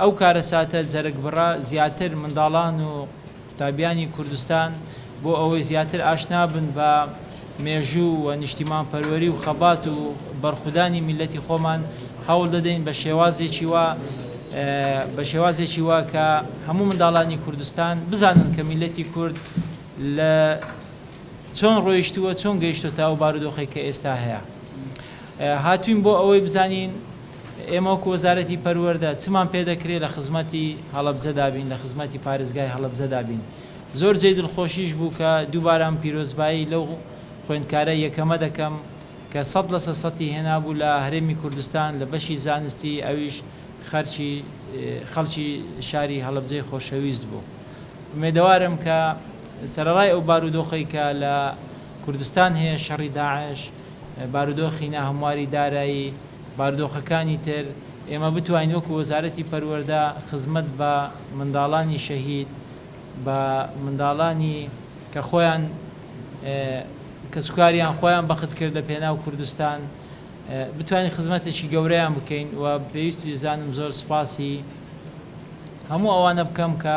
ئەو کارەساتە جەرگبڕە زیاتر منداڵان و قوتابیانی کوردستان بۆ ئەوەی زیاتر ئاشنا بن بە مێژوو و نیشتیمانپەروەری و خەبات و بەرخودانی میللەتی خۆمان هەوڵ دەدەین بە شێوازێکی وا بە شێوازێکی وا کە هەموو منداڵانی کوردستان بزانن کە میللەتی کورد لە چۆن ڕۆیشتووە چۆن گەیشتۆتە ئەو بارودۆخەی کە ئێستا هەیە هاتووین بۆ ئەوەی بزانین ئێمە وەکو وەزارەتی پەروەردە چمان پێ دەکرێ لە خزمەتی هەڵەبجەدا بین، لە خزمەتی پارێزگای هەڵەبجەدا بین. زۆر جێی دڵخۆشیش بوو کە دووبارە من پیرۆزبایی لەو خوێندکارە یەکەمە دەکەم کە سەد لە سەد سەتی هێنابوو لە هەرێمی کوردستان لە بەشی زانستی ئەویش خەرکی خەڵکی شاری هەڵەبجەی خۆشەویست بوو. ئومێدەوارم کە سەرەڕای ئەو بارودۆخەی کە لە کوردستان هەیە شەڕی داعش، بارودۆخی ناهەمواری دارایی، باردۆخەکانی تر، ئێمە بتوانین وەکو وەزارەتی پەروەردە خزمەت بە منداڵانی شەهید، بە منداڵانی کە خۆیان کەسوکاریان خۆیان بەخت کرد لە پێناو کوردستان بتوانین خزمەتێکی گەورەیان بکەین و پێویستیش زانم زۆر سوپاسی هەموو ئەوانە بکەم کە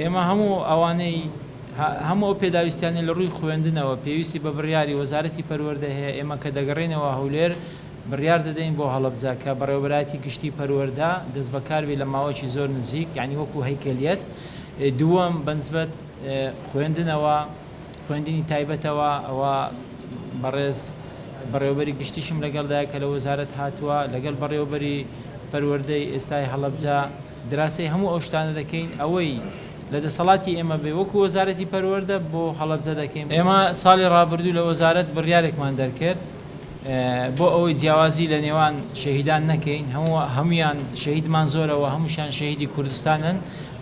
ئێمە هەموو ئەوانەی هەموو ئەو پێداویستیانەی لە ڕووی خوێندنەوە پێویستی بە بڕیاری وەزارەتی پەروەردە هەیە، ئێمە کە دەگەڕێینەوە هەولێر بڕیار دەدەین بۆ هەڵەبجە کە بەڕێوەبەرایەتی گشتی پەروەردە دەستبەکار بێت لە ماوەکی زۆر نزیک یانی وەکو هەیکەلیەت دووەم بەنسبەت خوێندنەوە خوێندنی تایبەتەوە ئەوە بەڕێز بەڕێوەبەری گشتیشم لەگەڵدایە کە لە وەزارەت هاتووە لەگەڵ بەڕێوەبەری پەروەردەی ئێستای هەڵەبجە دراسەی هەموو ئەو شتانە دەکەین ئەوەی لە دەسەڵاتی ئێمە بێ وەکو وەزارەتی پەروەردە بۆ هەڵەبجە دەکەین، ئێمە ساڵی ڕابردوو لە وەزارەت بڕیارێکمان دەرکرد بۆ ئەوەی جیاوازی لە نێوان شەهیدان نەکەین هەموو هەموویان شەهیدمان زۆرە و هەمووشیان شەهیدی کوردستانن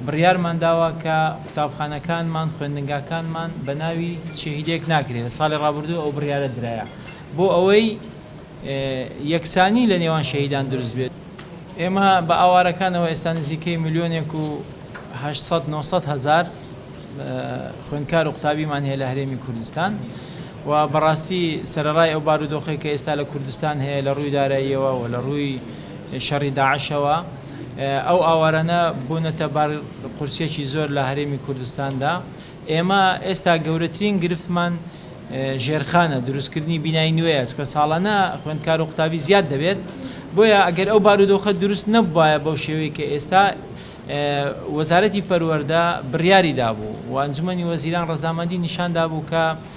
بڕیارمان داوە کە قوتابخانەکانمان خوێندنگاکانمان بە ناوی هیچ شەهیدێک ناکرێ لە ساڵی ڕابردوو ئەو بڕیارە درایە بۆ ئەوەی یەکسانی لە نێوان شەهیدان دروست بێت. ئێمە بە ئاوارەکانەوە ئێستا نزیکەی ملیۆنێک و هەشت سەد نۆ سەد هەزار خوێندکار و قوتابیمان هەیە لە هەرێمی کوردستان و بەڕاستی سەرەڕای ئەو بارودۆخەی کە ئێستا لە کوردستان هەیە لە ڕووی داراییەوە و لە ڕووی شەڕی داعشەوە ئەو ئاوارانە بوونەتە بار قورسیەکی زۆر لە هەرێمی کوردستاندا. ئێمە ئێستا گەورەترین گرفتمان ژێرخانە، دروستکردنی بینای نوێیە، چونکە ساڵانە خوێندکار و قوتابی زیاد دەبێت، بۆیە ئەگەر ئەو بارودۆخە دروست نەبووبایە بەو شێوەی کە ئێستا وەزارەتی پەروەردە بڕیاری دابوو و ئەنجومەنی وەزیران ڕەزامەندی نیشان دابوو کە